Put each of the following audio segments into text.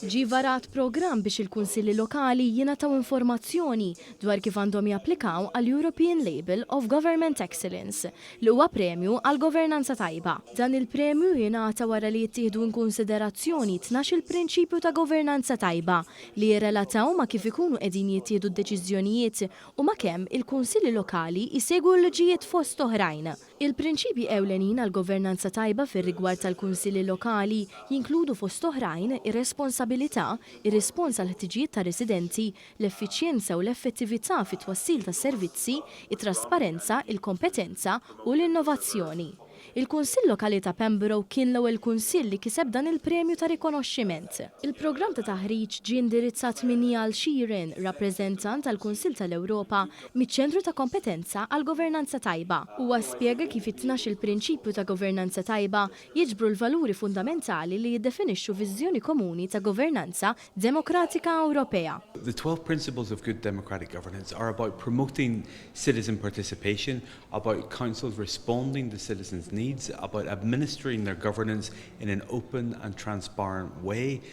Ġie varat programm biex il-Kunsilli Lokali jingħataw informazzjoni dwar kif għandhom japplikaw għall-European Label of Government Excellence, li huwa premju għall-governanza tajba. Dan il-premju jingħata wara li jittieħdu inkunsiderazzjoni tnax-il prinċipju ta' governanza tajba, li jirrelataw ma' kif ikunu qegħdin jittieħdu d-deċiżjonijiet u ma' kemm il-Kunsilli Lokali jsegwu l-liġijiet fost oħrajn. Il-prinċipji ewlenin għal governanza tajba fir-rigward tal-kunsilli lokali jinkludu fost oħrajn ir-responsabilità, ir-rispons għall-ħtiġijiet tar-residenti, l-effiċjenza u l-effettività fit-twassil tas-servizzi, it-trasparenza, il-kompetenza u l-innovazzjoni. Il-Kunsill Lokali ta' Pembroke kien l-ewwel kunsill li kiseb dan il-premju ta' rikonoxximent. Il-programm ta' taħriġ ġie indirizzat minn Niall Sheerin, rappreżentant għall-Kunsill tal-Ewropa miċ-Ċentru ta' Kompetenza għall-Governanza Tajba. Huwa spjega kif it-tnax-il prinċipju ta' governanza tajba jiġbru l-valuri fundamentali li jiddefinixxu viżjoni komuni ta' governanza demokratika Ewropea. The twelve principles of good democratic governance are about promoting citizen participation, about Councils responding to citizens' needs, about administering their governance in an open and transparent way,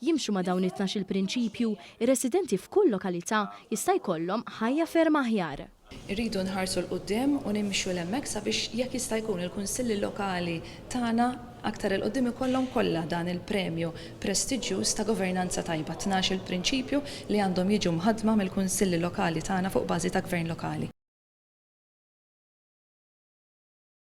jimxu ma' dawn it-tnax-il prinċipju, ir-residenti f'kull lokalità jista' jkollhom ħajja ferm aħjar. Irridu nħarsu 'l quddiem u nimxu 'l hemmhekk sabiex jekk jista' jkun il-Kunsilli Lokali tagħna aktar 'il quddiem ikollhom kollha dan il-premju prestiġġjuż ta' governanza tajba, tnax-il prinċipju li għandhom jiġu mħaddma mill-Kunsilli Lokali tagħna fuq bażi ta' Gvern Lokali.